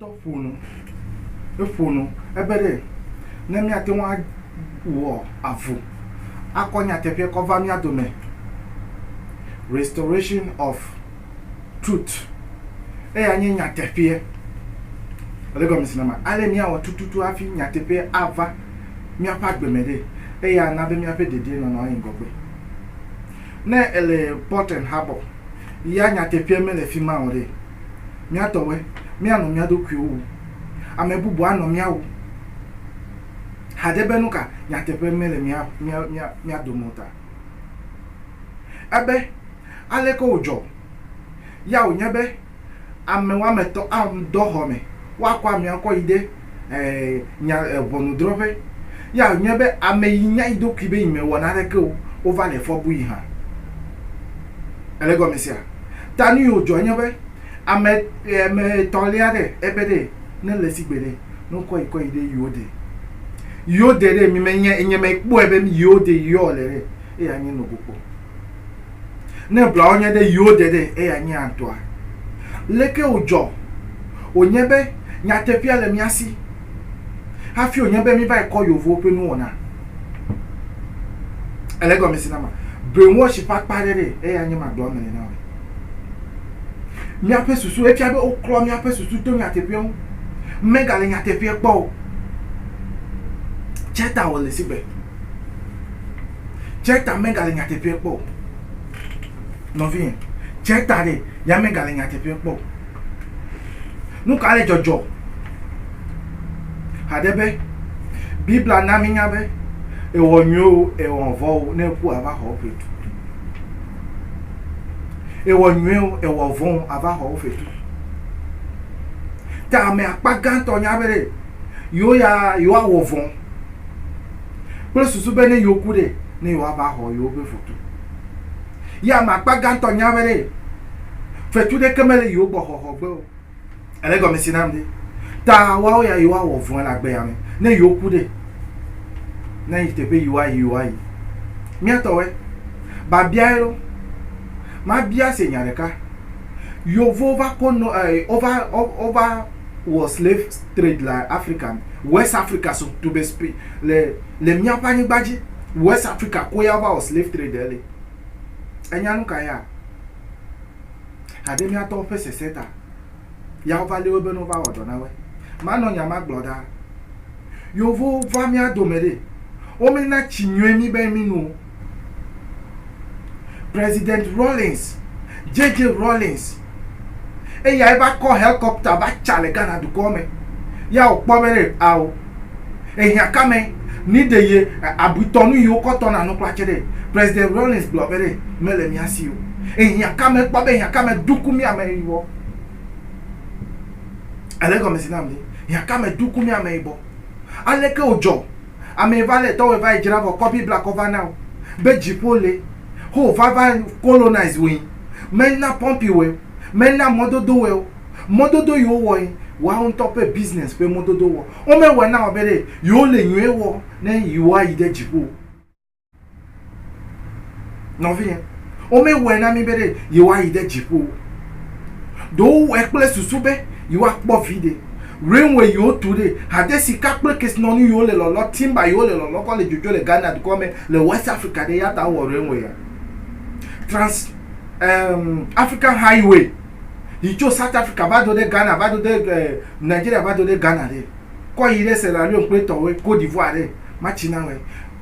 ƒo nu, eƒo nu, ebe ɖe ne míate ŋu awɔ avu akɔ nyateƒea kɔ va mía dome, Restoration of Truth, eya nye nyateƒea. Ele gɔmesi nama ale míawɔ tututu hafi nyateƒea ava míaƒe agbe me ɖe, eye ana be míaƒe dedienɔnɔ ayi ŋgɔgbe. Ne èle Portland Harbour ya nyateƒea mele fi ma o ɖe? Mía tɔwoe, míanɔ mía ɖokuiwo wum. Ame bubu anɔ mía wum. Hadze be nuka nyateƒe mele mía, mía, mía, mía dome o ta. Ebe, Aleke wòdzɔ ya wònye be Ame woame etɔ̃ awu dɔ xɔ me, woakɔ amea kɔ yi ɖe nya ʋɔnudrɔƒe. Ye anyae be ame yi nya eɖokui be yi me wɔ naneke o, wova le fɔ bui hã. Ele gɔme sea? Ta nu yi wo dzɔ nye be, ame ame etɔ̃ lia ɖe ebe ɖe ne le sigbe ɖe ne wo kɔ yi kɔ yi ɖe yi wo de yi wo de ɖe mi me nye nye me kpɔe be mi yi wo de yi yɔ le ɖe eya nye nogokpɔ. Ne blawo nye ɖe yiwo de ɖe, eya nye atɔa. Leke wòdzɔ wònye be nyateƒea le mía si hafi wònye be míva yi kɔ yevuwo ƒe nuwɔna? Ele egɔmesi na ma. Brainwash ƒe akpa aɖe ɖee, eya nye ma gblɔm nèle na wò ɖe. Míaƒe susu, efia be woklɔ míaƒe susu to nyateƒea ŋu. Megale nyateƒea kpɔ o. Tse ta wòle sigbe. Tseta megale nyateƒeɛ kpɔ o. Nɔvinyɛ, tseta ɖe ya megale nyateƒeɛ kpɔ o. Nu ka le dzɔdzɔ haɖe be, Bibla na mínya be, ewɔ nyuiwo o, ewɔ vɔ̃ o, ne eku ava xɔ wo fetu. Ewɔ nyuiwo o, ewɔ vɔ̃ o, ava xɔ wo fetu. Ta ame akpa gãtɔ nya be ɖe. yewo ya yewoawɔ vɔ̃ kple susu be ne yewoku ɖe, ne yewoava xɔ yewoƒe foto. Ye ame akpa gãtɔ nya be ɖe fetu ɖeke mele yewo gbɔ xɔxɔ gbe o. Ele gɔme si nam ɖe? Ta woawo ya yewoawɔ vɔ̃e le agbe ya me. Ne yewoku ɖe, ne yi teƒe yewoayi yewoayi. Mía tɔwoe. Babiae ɖo. Mabia se nya ɖeka. Yewowo va ko no e wova wova wɔ slave trade le Afrika me. West Afrika so to be spe le le míaƒe anyigba dzi. West Afrika koe ya va wɔ slave trade le. Enya nu ka ya? Haɖe míatɔwo ƒe sese ta ya wova lé wo be ne wova wɔ dɔ na woe. Manɔ nya ma gblɔ ɖaa. Yevowo va mía dome ɖe, womena tsi nyuie mí be míno o. President Rawlings, JJ Rawlings, eyae va kɔ helikɔpta va tsa le Ghana dukɔ me. Ya wòkpɔ be ɖe ao ehiã ka me ni ɖe ye abuitɔ nu yi wokɔ tɔ na nu kpla tse ɖe. President Rawlings gblɔ be ɖe mele mía si o. Ehiã ka me kpɔ be ehiã ka me duku mía me yibɔ. Ele gɔmesi nam ni. Hiã ka me duku mía me yibɔ. Aleke wòdzɔ? Amee va lé tɔwɔe va yi dzra vɔ kɔ bibla kɔ va na wo be dziƒo le ho va va colonize woe me na pɔmpi wɔe me na mɔdodo wɔe wo mɔdodo yi wo wɔe woawo ŋutɔ ƒe business ƒe mɔdodo wɔ wo me wɔe na wo be ɖe yi wo le nyuie wɔ ne yi woa yi ɖe dziƒo. Nɔvinyɛ, wome wɔɛ na mi be ɖe yewoa yi ɖe dziƒo. Ɖo wo wɔɛ kple susu be yewoa kpɔ viɖe. Rainway yewo tu ɖe, hade sika kple kesinɔnu yewo le lɔlɔ, timber yewo le lɔlɔ kɔ le dzodzo le Ghana dukɔ me le West Africa ɖe yata wo wɔ rainway ya. Trans ehm African highway yi tso South Africa va do ɖe Ghana va do ɖe eh Nigeria va do ɖe Ghana ɖe. kɔ yi ɖe Sierra Leone kple etɔwoe, Cote d'Ivoire ɖe, matsi na wɔe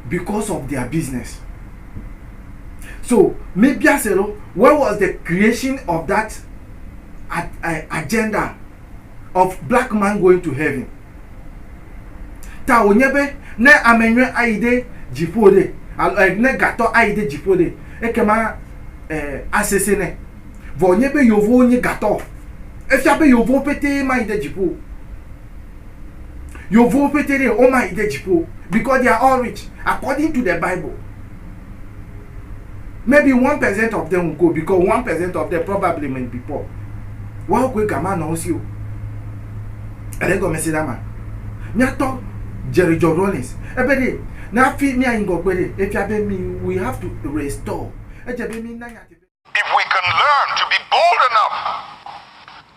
because of their business. So mebia se ɖo, where was the creation of that agenda of black man going to heaven? Ta wònye be ne ame nyui ayi ɖe dziƒo ɖe, alo ne gatɔ ayi ɖe dziƒo ɖe, ekema asesẽ nɛ. Vɔ nye be yovowo nye gatɔ. Efia be yovowo pete mayi ɖe dziƒo. Yovowo pete ɖe wo mayi ɖe dziƒo because they are all rich according to the bible. Maybe one percent of them will go because one percent of them probably may be poor. Woawo koe gama nɔ wo si o. Ele egɔme se na ma. Míatɔ Jerry John Rawlings ebe ɖe ne afi míayi ŋgɔgbe ɖe efia be mi we have to restore. Edze be mi na nyateƒe. If we can learn to be bold enough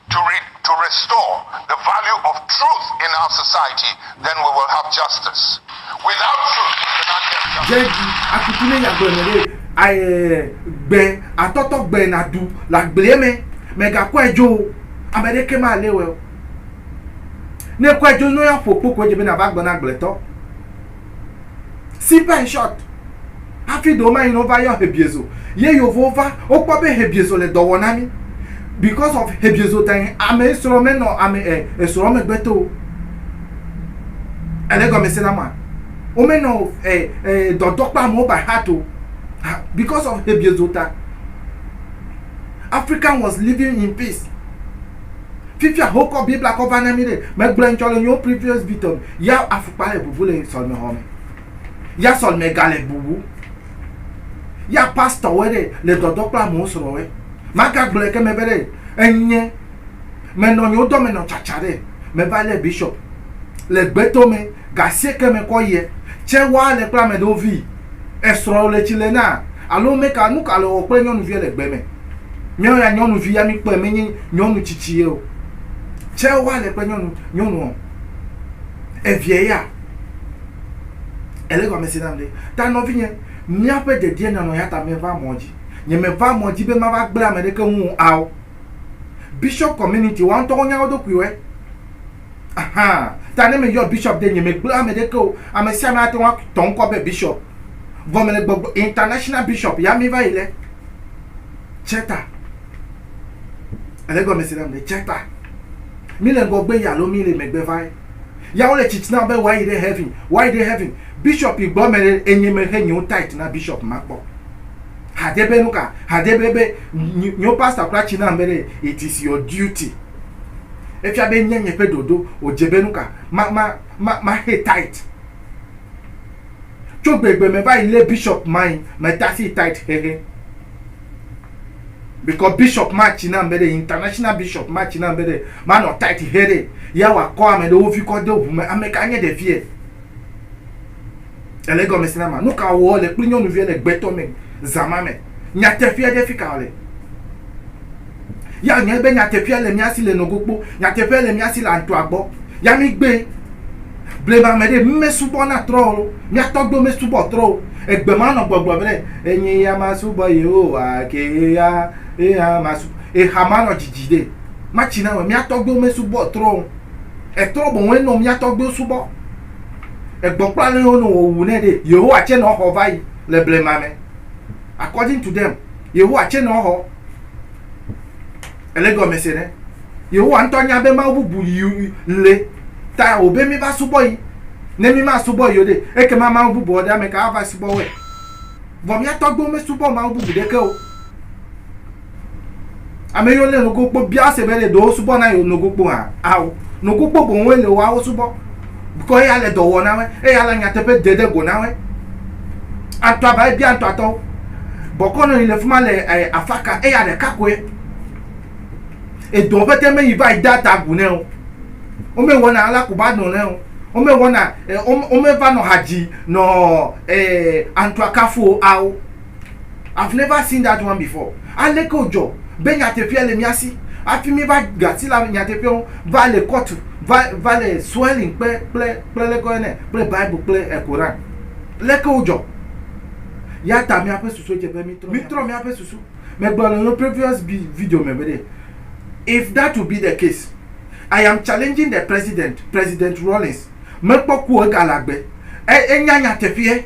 to re to restore the value of truth in our society, then we will have justice. Without truth, we cannot get justice. Jɛji akutu ne yagblɔe me ɖe aye gbe atɔtɔ gbe na du le agblea me me ga kɔe dzo o ame ɖe ke ma le wɛ o ne kɔe dzo nɔ ya ƒo kpo ko edze be na va gbe na agbletɔ Simple and short. Hafi ɖewo mayi no va yɔ hebiezo. Ye yovowo va, wokpɔ be hebiezo le dɔ wɔ na mi. Because of hebiezo ta yi ame esrɔ̃ menɔ ame e, esrɔ̃ megbe to o. Ele gɔmese na ma. Womenɔ e, e, dɔdɔ kple amewo by heart o. Because of hebiezo ta. African was living in peace. Fifia hokɔ bibla kɔ va na mi ɖe. Me gblɔe ŋtsɔ le nyo previous bitɔ me. Ya afukpa le bubu le sɔlime xɔ me. Ya sɔlime ga le bubu. Ya pastor wɔ ɖe le dɔdɔ kple amewo srɔ wɔ. Ma ga gblɔe ke me be ɖe enye me nɔ nyo dɔ me nɔ tsatsa ɖe. Me va le bishop le gbeto me ga sie ke me kɔ yɛ. Tse wa le kple ameɖewo vi. esrɔ̃ le tsi le na? Alo meka nu ka le wɔ kple nyɔnuvia le gbe me? Míawo ya nyɔnuvi ya míkpɔe menye nyɔnu tsitsi ye o. Tsɛ woa le kple nyɔnu nyɔnu ɔ eviɛ ya ele gɔmesi nam ɖe. Ta nɔvinye, míaƒe dedie nyanɔ eyata meva mɔ dzi. Nye meva mɔ dzi be mava gblẽ ameɖeke ŋu ao. Bishop community woa ŋutɔ wonya woɖokuiwɔe. Ta ne meyɔ bishop ɖe nye megblẽ ame ɖeke o. Ame sia ame ate ŋu atɔ ŋkɔ be bishop. Vɔ mele gbɔgblɔ international bishop ya mi va yi le Cheta. Ele gɔme se nam le Cheta. Mi le ŋgɔgbe ya alo mi le megbe va ye. Ya wole tsitsi na be woayi ɖe heaven, woayi ɖe heaven. Bishop yi gbɔ me enye mexe nyewo tight na bishop ma kpɔ. Hade be nuka? Hade be be nyewo pastor kura tsi na be it is your duty. Efia be nye nye ƒe ɖoɖo wòdze be nuka ma ma ma ma xe tait. Tso gbegbe me va yi lé bishop mai me tasi tait xexe. Bikɔ bishop ma tsi nam be ɖe international bishop ma tsi nam be ɖe ma nɔ tait xe ɖe ya wɔ akɔ ame ɖewo vi kɔ de ʋu me ame ka nye ɖevie. Ele egɔme si na ma. Nu ka wɔ le kple nyɔnuvia le gbetɔ me zã ma me? Nyateƒea ɖe fi ka wòle. Ya nyae be nyateƒea le mía si le nogo kpo. Nyateƒea le mía si le antoa gbɔ. Ya mí gbee. Blema me ɖe, mí me subɔ na trɔ o. Mía tɔgbuiwo me subɔ trɔ o. Egbe ma nɔ gbɔgblɔ be ɖe, enye ya ma subɔ Yehowa ke ye ya, ye hã ma subɔ. Exa ma nɔ dzidzi ɖe. Ma tsi na me. Mía tɔgbuiwo me subɔ trɔ o. Etrɔ bɔbɔe nɔ mía tɔgbuiwo subɔ. Egbɔkpla lɔ yɔ nɔ wɔwu nɛ ɖɛ. Yehowa tsɛ nɔ xɔ vayi le blema mɛ. According to them, Yehowa tsɛ nɔ xɔ. Ele gɔmɛ se nɛ. Yehowa ŋtɔ nya be mawu bubu yi le ta o be mí va subɔ yi. Ne mí ma subɔ yi o ɖe, ekema mawu bubuɔ ɖe amɛ ka ava subɔ wɔɛ? Vɔ mía tɔgbuiwo me subɔ mawu bubu ɖeke o. Ame yiwo lé nogokpo bia se be ɖe ɖewo subɔ na yewo nogokpo hã. Ao, nogokpo boŋue le woawo subɔ. Bikɔ eya le dɔ wɔ na woe, eya le nyateƒe dede go na woe. Antɔa va ebia antɔatɔwo. Bɔkɔ nɔ yi le fuma le eh, afaka, eya ɖeka koe. Edɔ ƒete me yi va yi de ata gu nɛ o. Wome wɔna ala ku ba nɔ nɛ o. Wome wɔna, eh, wome va nɔ hadzi nɔ eh, antɔa kafu o. Ao. I've never seen that one before. Aleke wòdzɔ be nyateƒea le mía si hafi míeva ɖu asi le ame nyateƒea ŋu va le kɔtu va va le swelling kpe kple kple leke woyɔnɛ kple Bible kple e Koran. Leke wodzɔ? Ya ta míaƒe susuedzeƒe mítrɔ mítrɔ míaƒe susu. Megblɔ le previous bi video me be ɖe if that will be the case I am challenging the president, President Rawlings mekpɔ ku o egale agbe. E enya nyateƒea.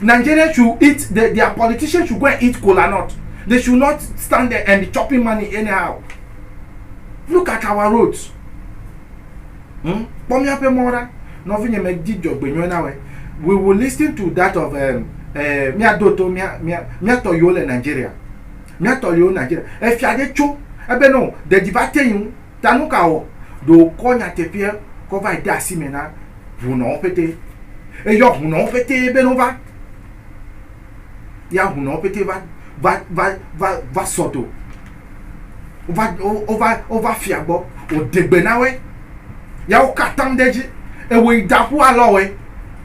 Nigeria should eat the their politician should go and eat kola nut they should not stand there and be chopping money anyhow look at our roads hmm? kpɔ míaƒe mɔ ɖa nɔvinye me di dzɔgbenyɔe na we we will listen to that of um, eh, míado to míatɔ yiwo le Nigeria míatɔ yiwo Nigeria efia ɖe tso ebe no ɖeɖi va te yi ŋu Ta nu ka wɔ? Ɖo wòkɔ nyateƒeɛ kɔ vae de asi mɛ na hunɔwo ƒete. Eyɔ hunɔwo ƒete bene wova. Ya hunɔwo ƒete va, va, va, va, va sɔ do. Wova, wo, wova, wova fia gbɔ. Wòɖe gbe na woe. Ya wokɔ atam ɖe edzi. Ewɔe yi da ƒu alɔ woe.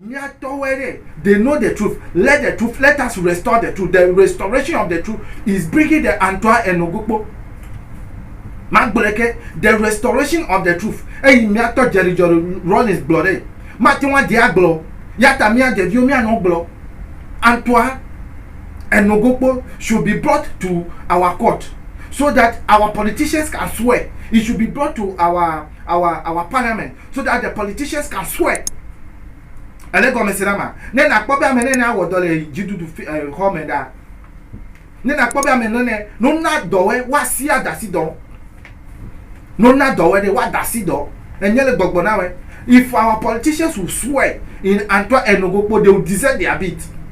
Míatɔwoe ɖe, they know the truth, let the truth, let us restore the truth, the restoration of the truth is bringing the Antoine Enogokpo, magblɔe ke, the restoration of the truth, eyi míatɔ Jerry Jory Rawlings gblɔ ɖee, mate ŋu ade agblɔ o, yata mía ɖeviwo míanɔ gblɔ, Antoine Enogokpo should be brought to our court so that our politicians can swear, he should be brought to our, our, our parliament. so that the politicians can swear. Ele gɔmese na ma. Ne na kpɔ be ame nene awɔ dɔ le dzidudu fi eh, xɔ me ɖa. Ne na kpɔ be ame nene no na dɔwɛ wa si adasi dɔ. No na dɔwɛ de wa dasi dɔ. Enye le gbɔgbɔ na wɛ. If our politicians will swear in Antoine Enogo kpo, they will deserve their beat.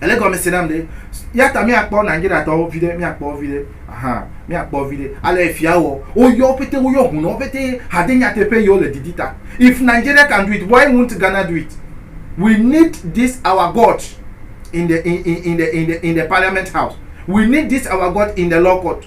Ele gɔmese nam ɖe. Yata míakpɔ Nigeriatɔwo viɖe, míakpɔ wo viɖe. Ahan, míakpɔ wo viɖe. Ale efia wɔ. Woyɔ wo pete, woyɔ hunɔwo pete hade nyateƒe yiwo le didi ta. If Nigeria can do it, why won't Ghana do it? We need this our God in the in in in the in the in the parliament house. We need this our God in the law court.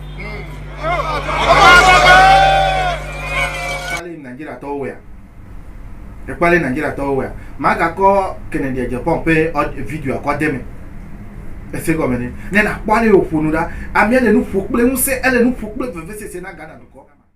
ekpalɛ nigeria tɔwo wɛa magakɔ kennedy ejepɔn ƒe video akɔ de me ese gɔme ne ne nakpɔ ale wòƒonu ɖa amea le nu ƒo kple ŋusẽ ele nu ƒo kple vevesese na ghana dukɔ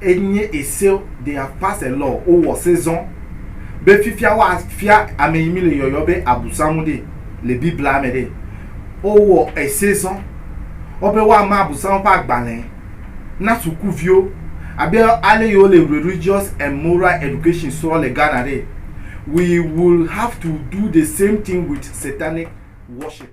enye ese they have pass a law wowɔ se zɔ be fifia woafia ame yi mi le yɔyɔ be abusamu ɖe le biblia me ɖe wowɔ ese zɔ wobe woama abusamu ƒe agbalẽ na sukuviwo abe ale yi wole religious and moral education srɔ le ghana ɖe we will have to do the same thing with satanic worship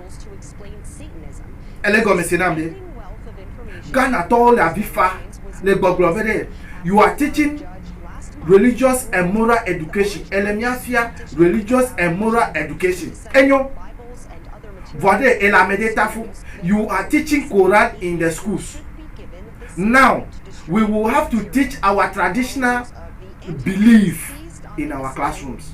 Ele gɔme se nam be Ghana tɔwo le avi fa le gbɔgblɔ be ɖe you are teaching religious and moral education, ele mía fia religious and moral education. Enyo. Vɔa ɖe ele amɛɖe ta fo. You are teaching Koran in the schools. Now we will have to teach our traditional belief in our classrooms.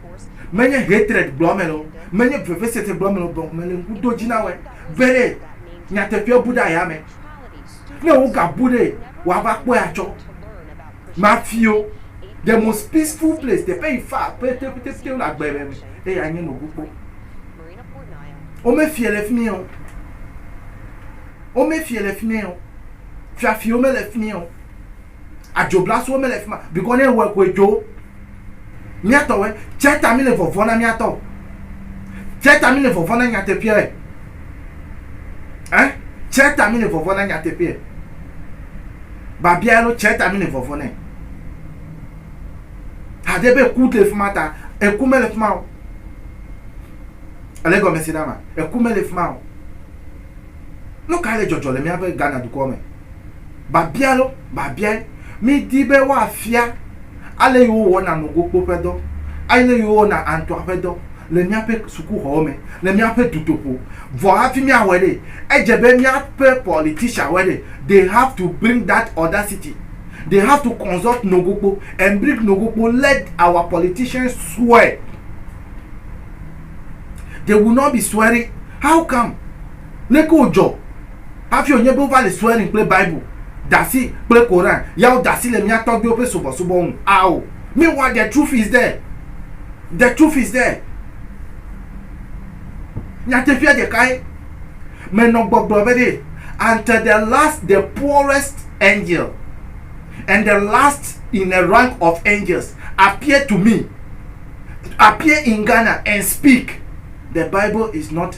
Menye hatred gblɔ ame lɔ, menye vevesese gblɔ ame lɔ bɔn mele ŋku do dji na wɛ be ɖe nyateƒea bu ɖe aya me. Ne wo ga bu ɖe wa va kpɔe atsɔ. Mafio, the most peaceful place, teƒe yi fa pete pete pete le agbe me me eye anye no gu kpɔ. Wo me fie le fimie o. Wo me fie le fimie o. Fiafio me le fimie o. Adzoblasoe mele fi ma bikɔ ne ewɔe koe dzo. Míatɔwɔe. Tsia ta míle vɔvɔm na míatɔ. Tsia ta míle vɔvɔm na nyateƒeɛ. Ɛ? Tsia ta míle vɔvɔm na nyateƒeɛ. Babia ɖo tsia ta míle vɔvɔm nɛ. Hade be eku le fi ma ta. Eku mele fi ma o. Ele gɔme se ɖa ma. Eku mele fi ma o. Nu ka le dzɔdzɔ le míaƒe Ghana dukɔ me? Biabia lɔ biabiae. Mídi be woafia ale yi wowɔna nogokpo ƒe dɔ, ale yi wowɔna antɔa ƒe dɔ le míaƒe sukuxɔwo me, le míaƒe dutoƒo. Vɔ hafi míawɔe ɖe, edze be míaƒe politicianwoe ɖe, they have to bring that audacity, they have to consult nogokpo and bring nogokpo, let our politicians swear. They will not be swearing, how come? Leke wòdzɔ? Hafi wònye be wova le swearing kple Bible, Dasi, kple Koran, ya wode asi le mía tɔgbuiwo ƒe subɔsubɔ ŋu. Ao. Meanwhile, the truth is there. The truth is there. Nyateƒea ɖekae. Menɔ gbɔgblɔ be ɖe, until the last, the poorest angel and the last in the rank of angels appear to me, appear in Ghana and speak, the Bible is not.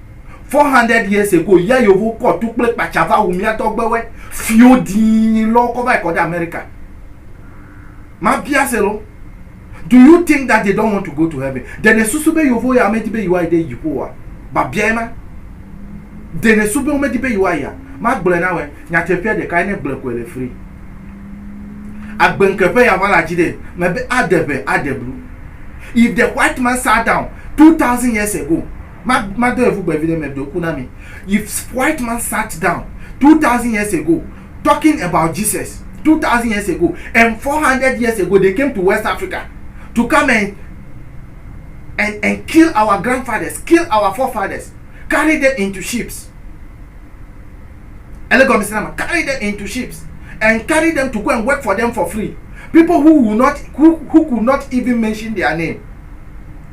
Four hundred years ago ya yovo kɔ tu kple kpatsa va wu mía tɔgbewe fio dii lɔ kɔ va yi kɔ ɖe America. Ma bia se lɔ, do you think that they don't want to go to heaven? Ɖe ne susu be yovo ya me di be yewoa yi ɖe dziƒo oa? Ba bia ye ma. Ɖe ne su be wome di be yewoa yia? Ma gblɔe na wɛ, nyateƒea ɖeka ye ne gblɔe koe le free. Agbe ŋke ƒe ya va la dzi ɖe me be aɖe ŋe aɖe blu. If the white man sat down two thousand years ago, Ma, madɔe ƒu gbe viɖe meɖo ku na mi. If white man sat down two thousand years ago talking about Jesus, two thousand years ago and four hundred years ago they came to West Africa to come and and and kill our grandfathers, kill our forefathers, carry them into ships. Ele gɔme sena ma, carry them into ships and carry them to go and work for them for free. People who will not who, who could not even mention their name.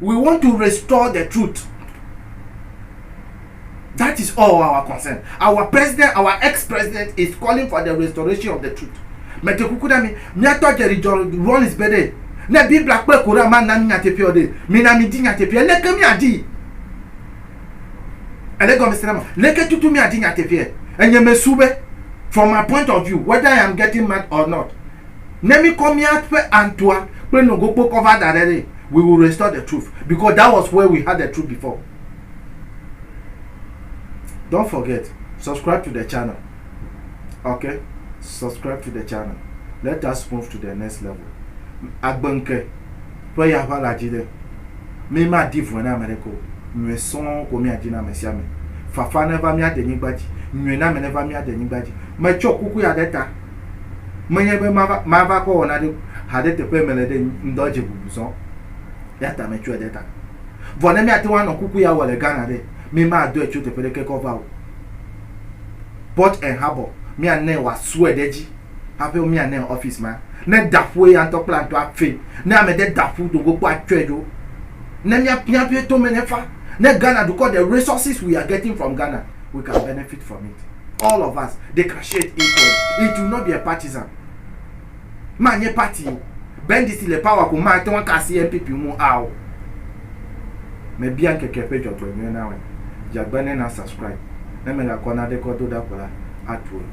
We want to restore the truth that is all our concern our president our ex president is calling for the restoration of the truth mete kuku na mi miatɔ jerry john rollins be ɖe ne biblia kple koran ma na mi nyateƒeɔ ɖe mina mi di nyateƒeɛ leke mi adi ele gɔmesi na ma leke tutu mi adi nyateƒeɛ enye me su be from my point of view whether i am getting mad or not ne mi kɔ miaƒe antua kple nogokpo kɔ va da ɖe ɖe we will restore the truth because that was where we had the truth before don't forget subscribe to the channel okay subscribe to the channel let us move to the next level agbenke ƒe ya ʋa la dzi ɖe mi ma di vɔe na ame ɖe ko nyuie sɔŋ ko mia di na ame sia ame fafa neva mia de nyigba dzi nyuie na ame neva mia de nyigba dzi metsɔ kuku ya ɖe ta Menye be mava, mava kɔ wɔna ɖe haɖe teƒe mele ɖe ŋdɔ dze bubu zɔ. Ya ta metsɔe ɖe ta. Vɔ ne míate ŋu anɔ kuku ya wɔ le Ghana ɖe, mi madɔe tso teƒe ɖeke kɔ va o. Port and Harbor, míanae wòasue ɖe edzi haƒe míanae ɔfisi ma. Ne da ƒu eya ŋutɔ kple atɔa fe, ne ame ɖe da ƒu do go kpɔ atsɔe dzo. Ne míapiã ƒe tome ne fa. Ne Ghana dukɔ ɖe resources we are getting from Ghana. we can benefit from it. All of us, they can share it equally. It will not be a partisan. Ma nye party o. Bendisi le power ko ma te ŋu kasi NPP mu ao. Mebia ŋkeke ƒe dzɔgbenyuie na wɔ. Dzagbe ne na subscribe. Ne mele akɔ na ɖe kɔ do ɖa ko la, atu enu.